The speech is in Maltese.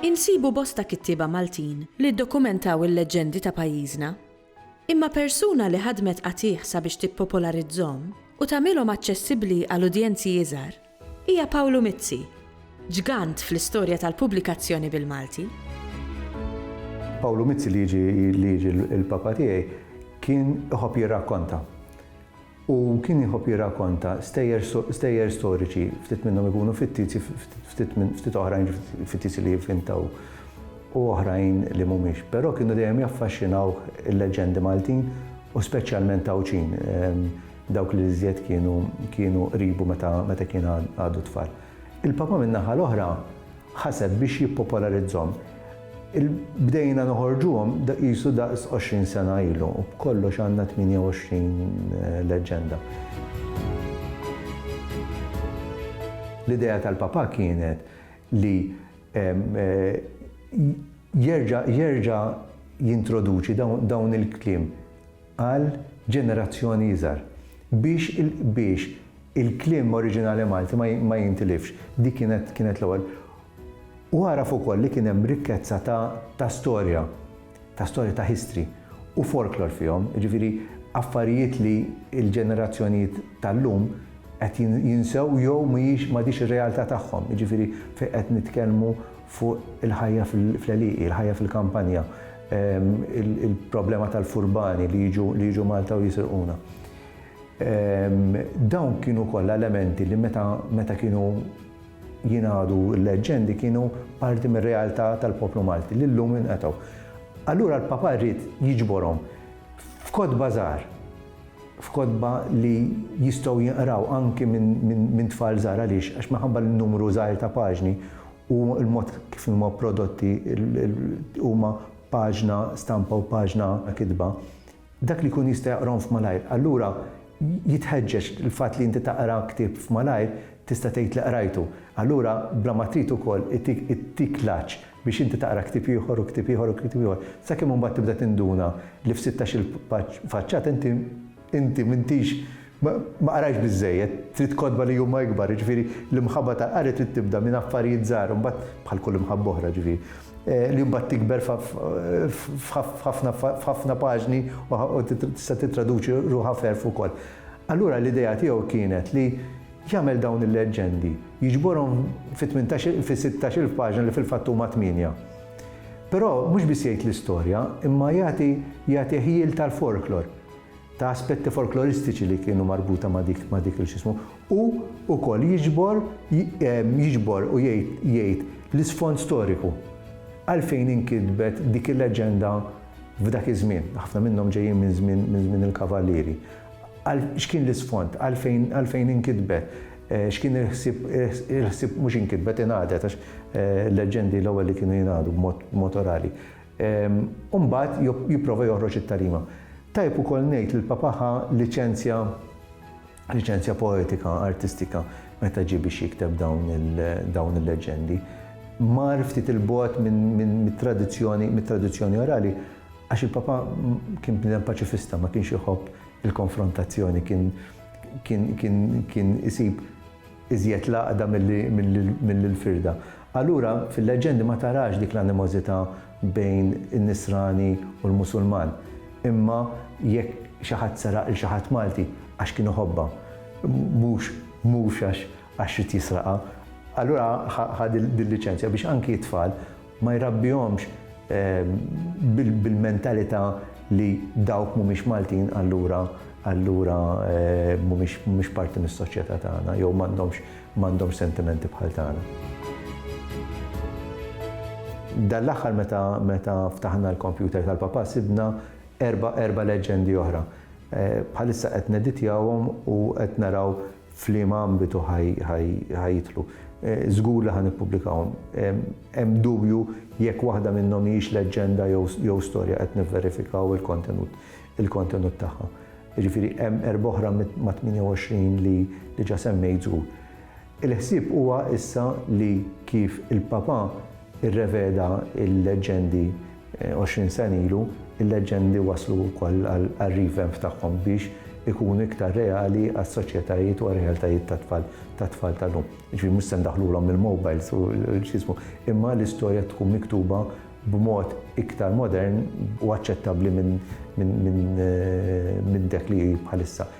Insibu bosta kittieba Maltin li ddokumentaw il-leġġendi ta' pajjiżna. Imma persuna li ħadmet qatigħ sabiex tippopolarizzhom u tagħmilhom aċċessibbli għal udjenzi iżgħar, Hija Pawlu Mizzi, ġgant fl-istorja tal-pubblikazzjoni bil-Malti. Pawlu Mizzi li jiġi l-Papa tiegħi kien iħobb jirrakkonta. U kien iħobb jirrakkonta stejjer storiċi, ftit minnhom ikunu fittizi, ftit oħrajn fittizi li jivvintaw u oħrajn li mhumiex. Però kienu dejjem jaffaxxinawh il-leġġendi Maltin u speċjalment Għawdxin. Dawk li l-iżjed kienu kienu qribu meta meta kien għadu tfal. Il-Papa min-naħa l-oħra ħaseb biex jippopolarizzhom. Il bdejna noħorġuhom da qisu daqs 20 sena ilu u b'kollox għandna 28 leġġenda. L-idea tal-Papa kienet li jerġa' jerġa' jintroduċi dawn il-kliem. għal ġenerazzjoni iżgħar, biex biex il-kliem oriġinali Malti ma ma jintilifx. Dik kienet kienet l-ewwel. U għaraf ukoll li kien hemm rikkezza ta' ta' storja, ta' storja ta' history u folklor fihom, jiġifieri affarijiet li l-ġenerazzjonijiet tal-lum qed jinsew jew mhijiex m'għadhiex ir-realtà tagħhom, jiġifieri fejn qed nitkellmu fuq il-ħajja fl-għelieqi, il-ħajja fil-kampanja. il-problema tal-furbani li jiġu Malta u jisirquna. Dawn kienu kollha elementi li meta kienu jingħadu l-leġġendi kienu parti mir-realtà tal-poplu Malti li llum inqetgħu. Allura l-Papa ried jiġborhom f'kotba żgħar, f'kotba li jistgħu jinqraw anki minn tfal żgħar għaliex għax minħabba n-numru żgħir ta' paġni u l-mod kif huma prodotti huma paġna stampa u paġna kitba, dak li jkun jista' jaqrahom f'malajr. Allura jitħeġġeġ l-fatt li inti taqra ktieb f'malajr tista' tgħid li qrajtu. Allura bla ma trid ukoll ittik l-għatx biex inti taqra ktieb ieħor u ktieb ieħor u ktieb ieħor sakemm imbagħad tibda tinduna li f'sittax-il faċċata inti Inti m'intix, ma qrajtx biżżejjed, trid kotba li huma ikbar, jiġifieri l-imħabba tal-qari trid tibda minn affarijiet żgħar u mbagħad, bħal kull imħabba oħra jiġifieri, li mbagħad tikber f'ħafna paġni u tista' tittraduċi ruħha f'għerf ukoll. Allura l-idea tiegħu kienet li jagħmel dawn il-leġġendi, jiġborhom fi tmintax, fi sittax il paġna li fil-fatt huma tmienja. Però mhux biss jgħid l-istorja imma jagħti, jagħti ħjiel tal-folklor. ta' aspetti folkloristiċi li kienu marbuta ma' dik ma' dik il xismu u wkoll jiġbor jiġbor u jgħid l-isfond storiku għalfejn inkitbet dik il-leġenda f'dak iż-żmien. Ħafna minnhom ġejjin minn żmien minn żmien il-kavallieri. Għal x'kien l-isfond, għalfejn għalfejn inkitbet, x'kien il-ħsieb il-ħsieb mhux inkitbet ingħadet għax leġendi l-ewwel li kienu jingħadu b'mod orali. u mbagħad jipprova joħroġ it-tarima. Tajjeb ukoll ngħid li l-Papa ħa liċenzja liċenzja poetika, artistika, meta ġie biex jikteb dawn il-leġġendi. Mar ftit il-bogħod mit-tradizzjoni mit-tradizzjoni orali għax il-Papa kien bniedem paċifista, ma kienx iħobb il-konfrontazzjoni, kien kien kien kien isib iżjed l-għaqda milli l-firda. Allura, fil-leġġendi ma tarax dik l-animożità bejn in-Nisrani u l-Musulman. Imma jekk xi ħadd seraq 'l xi ħadd Malti, għax kien iħobbha, mhux mhux għax għax ried jisraqha. Allura ħa din l-liċenzja biex anki t-tfal, Ma jrabbihomx bil-mentalità li dawk mhumiex Maltin allura allura mhumiex parti mis-soċjetà tagħna jew m'għandhomx m'għandhomx sentimenti bħal tagħna. Dan l-aħħar meta meta ftaħna l-kompjuter tal-papà sibna erba' erba' leġġendi oħra. Bħalissa qed neditjawhom u qed naraw f'liema ambitu ħa jidħlu. Żgur li ħa nippubblikahom. Hemm dubju jekk waħda minnhom hijiex leġġenda jew storja, qed nivverifikaw il-kontenut il-kontenut tagħha. Jiġifieri hemm erbgħa oħra mat-28 li diġà semmejt żgur. Il-ħsieb huwa issa li kif il-Papa rreveda l-leġġendi, 20 sena ilu, il-leġġendi wasslu wkoll għar-revamp tagħhom biex ikunu iktar reali għas-soċjetajiet u għar-realtajiet tat-tfal, tat-tfal tal-lum. Jiġifieri mhux se ndaħħlulhom il-mobiles u x'jismu, imma l-istorja tkun miktuba b'mod iktar modern u aċċettabbli minn minn minn minn dak li hi bħalissa.